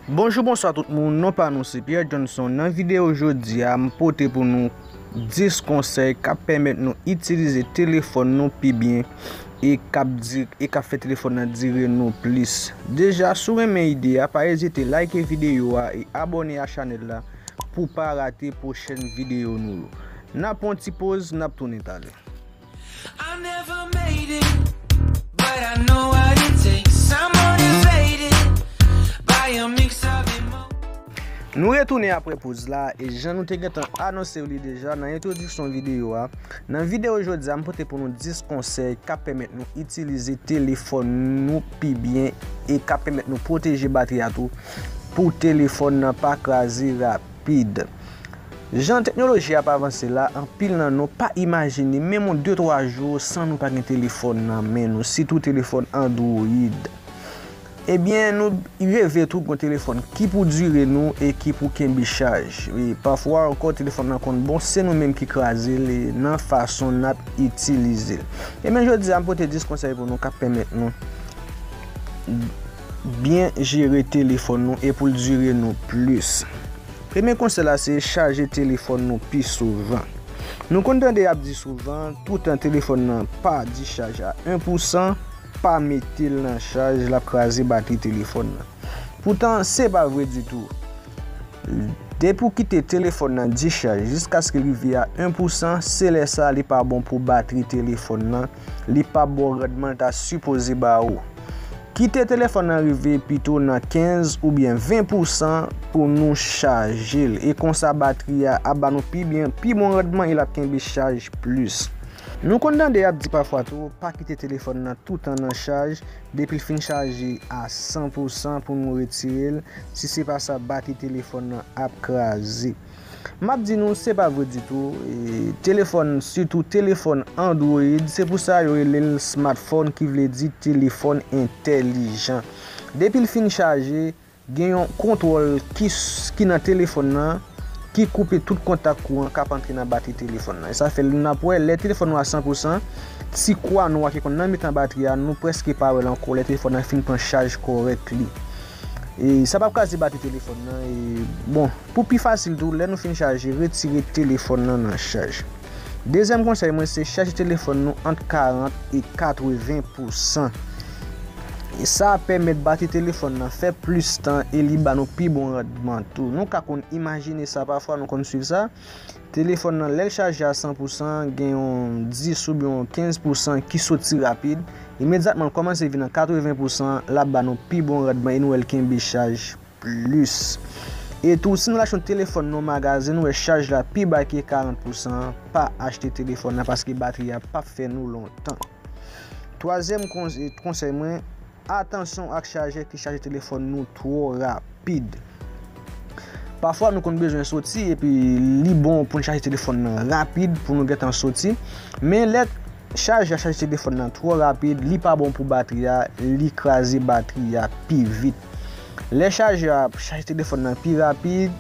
Bonjou bonswa tout moun non pa nou se Pierre Johnson nan video jodi a m pote pou nou 10 konsèy kap pèmèt nou itilize telefòn nou pi byen e kap di e kap fè telefòn nan dire nou plis deja si w renmen ide a pa ezite like video a e abòne a chanèl la pou pa rate pwochèn video nou yo nap pran yon ti poz nap tounen talè. Nou retounen apre poz la e jan nou te gentan anonsew li deja nan entwodiksyon videyo a Nan videyo jodi a m pote pou nou 10 konsèy k ap pèmèt nou itilize telefòn nou pi byen e k ap pèmèt nou pwoteje batri a tou pou telefòn nan pa kraze rapid. Jan teknoloji ap avanse la, anpil nan nou pa imajine menm yon de twa jou san nou pa gen telefòn nan men nou, sitou telefòn android. Ebyen, nou reve tou g'on telefòn ki pou dire nou e ki pou kenbe chaj. E pafwa ankò telefòn nan konn bon se nou menm ki kraze l nan fason n'ap itilize l. Ebyen jodi a m pote 10 konsèy pou nou k'ap pèmèt nou byen jere telefòn nou e pou l dire nou plis. Premye konsèy la se chaje telefòn nou pi souvan. Nou konn tande y ap di souvan, toutan telefòn nan pa dichaj a 1 pou 100, pa mete l nan chaj l ap kraze batri telefòn nan. Poutan se pa vre ditou. Depi w kite telefòn nan dichaj jiskaske l rive a 1 pou 100, se lè sa li pa bon pou batri telefòn nan. li pa baw randman l ta sipoze ba ou. Kite telefòn nan rive pito nan 15 oubyen 20 pousan pou nou chaje l e konsa batri a ap ba nou pi byen, pi bon randman e l ap kenbe chaj plis. Nou konn tande y ap di pafwa tou pa kite telefòn nan toutan nan chaj, depi l fin chaje a 100 pousan pou nou retire l, si se pa sa batri telefòn nan ap kraze. Map di nou se pa vre ditou, telefòn sitou telefòn android se pou sa yo rele l smartphone ki vle di telefòn entèlijan. Depi l fin chaje, gen yon kontwòl ki nan telefòn nan ki koupe tout kontak kouran kap antre nan batri telefòn nan. E sa fè nou nap wè lè telefòn nou a 100 pou 100, ti kwa nwa ki konn nan mitan batri a nou prèske pa wè l ankò lè telefòn nan fin pran chaj kòrèk li. E sa pap kraze batri telefòn nan e bon pou pi fasil tou lè nou fin chaje retire telefòn nan nan chaj. Dezyèm konsèy mwen se chaje telefòn nou ant 40 e 80 pou san. E sa ap pèmèt batri telefòn nan fè plis tan e li ba nou pi bon randman tou. Nou ka konn imajine sa pafwa nou konn swiv sa. Telefòn nan lè l chaje a 100 pou san gen yon 10 oubyen yon 15 pou san ki soti rapid, imedyatman l kòmanse vin an 80 pou san l ap ba nou pi bon randman e nou wè l kenbe chaj plis. E tou si nou achte yon telefòn nan yon magazen nou wè chaj la pi ba ke 40 pou san an pa achte telefòn nan paske batri a pap fè nou lontan. Twazyèm konsèy mwen. Atansyon ak chajè ki chaje telefòn nou twò rapid. Pafwa nou konn bezwen soti epi li bon pou n chaje telefòn nan rapid pou nou gentan soti. Men lè chajè a chaje telefòn nan twò rapid, li pa bon pou batri a, li kraze batri a pi vit. Lè chajè a chaje telefòn nan pi rapid,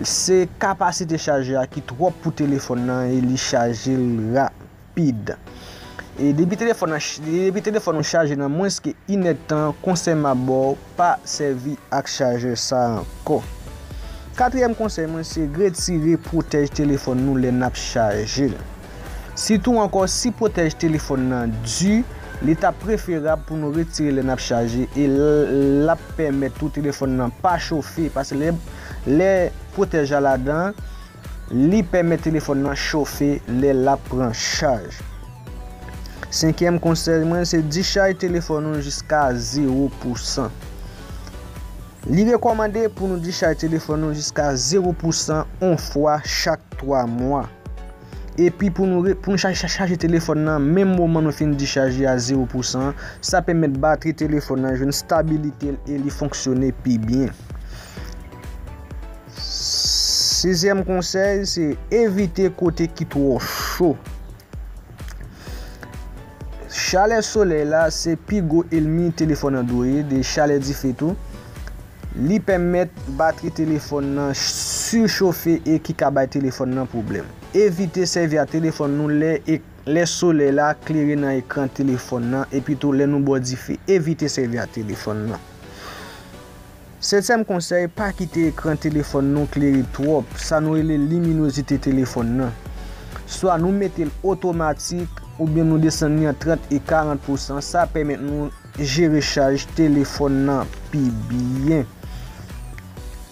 se kapasite chajè a ki twòp pou telefòn nan e li chaje l rapid. rapid. E depi telefòn nan depi telefòn ou chaje nan mwens ke inèdtan konsèy map baw pa sèvi ak chajè sa ankò. Katriyèm konsèy mwen se retire pwotèj telefòn nou lè nap chajel. Sitou ankò si pwotèj telefòn nan di li ta preferab pou nou retirel lè nap chaje e lap pèmèt tou telefòn nan pa chofe paske lè pwotèj la ladan Li pèmèt telefòn nan chofe lè l ap pran chaj. Senkyèm konsèy mwen se dichaj telefòn ou jiska zewo pou san. Li rekòmande pou nou dichaj telefòn nou jiska zewo pou san on fwa chak 3 mwa. Epi pou nou chaje telefòn nan menm moman nou fin dichaj li a zewo pou san, sa pèmèt batri telefòn nan jwenn stabilite l e li fonksyone pi byen. Sizyèm konsèy se evite kote ki twò cho. Chalè solèy la se pi gwo elmi telefòn Android e chalè dife tou. Li pèmèt batri telefòn nan sichofe e ki ka bay telefòn nan pwoblèm. Evite sèvi ak telefòn nou lè solèy la klere nan ekran telefòn nan epitou lè nou bò dife. Evite sèvi ak telefòn nan. Setyèm konsèy, pa kite ekran telefòn nou klere twòp, sa nou rele liminozite telefòn nan. Swa nou mete l otomatik, oubyen nou desann li an 30 e 40 pousan, sa pèmèt nou jere chaj telefòn nan pi byen.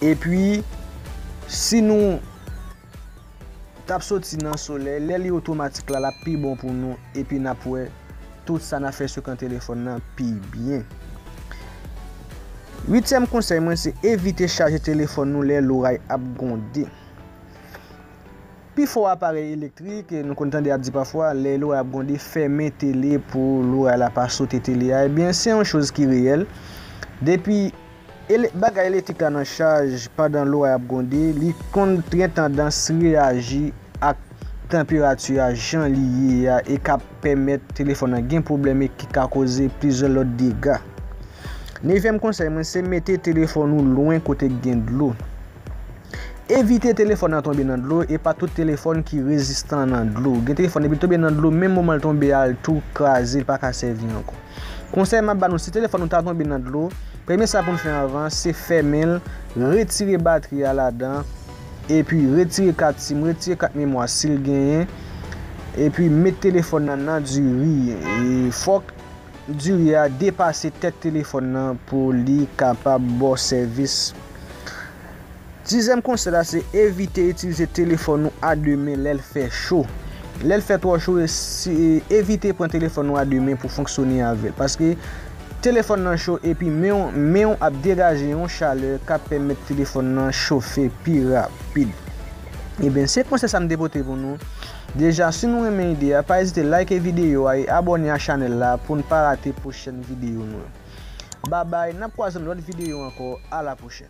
Epi, si nou. Tap soti nan solèy lè li otomatik la lap pi bon pou nou epi nap wè tout sa nap fè sou kan telefòn nan pi byen. Uityèm konsèy mwen se evite chaje telefòn nou lè loray ap gwonde. Pi fò aparèy elektrik nou konn tande ap di pafwa lè loray ap gwonde fèmen tele pou loray la pa sote tele a ebyen se yon choz ki reyèl depi Ele bagay elektrik la nan chaj pandan loray ap gwonde, li konn gen tandans reyaji ak tanperati a jan li ye a e ka pèmèt telefòn nan gen pwoblèm e ki ka koze plizyè lòt dega. Nevyèm konsèy mwen se mete telefòn ou lwen kote k gen dlo. Evite telefòn nan tonbe nan dlo, e pa tout telefòn ki rezistan nan dlo. Gen telefòn depi l tonbe nan dlo menm moman l tonbe a l tou kraze l pa ka sèvi ankò. Konsèy m ap ba nou si telefòn nou ta tonbe nan dlo, premye sa pou n fè anvan se fèmen l, retire batri a ladan, epi retire kat sim, retire kat memwa si l genyen, epi met telefòn nan nan diri. Fòk diri a depase tèt telefòn nan pou li kapab ba w sèvis. Sizyèm konsèy la se evite itilize telefòn ou a 2 men lèl fè cho. Lèl fè twò cho evite pran telefòn ou a 2 men pou fonksyone avèl. Paske telefòn nan cho epi men ou ap degaje yon chalè kap pèmèt telefòn nan chofe pi rapid. Eben se konsèy sa m te pote pou nou. Deja si nou renmen ide a pa ezite like videyo a e abòne a chanèl la poun pa rate pwochèn videyo nou yo. Babay nap kwaze nan lòt videyo ankò a la pwochèn.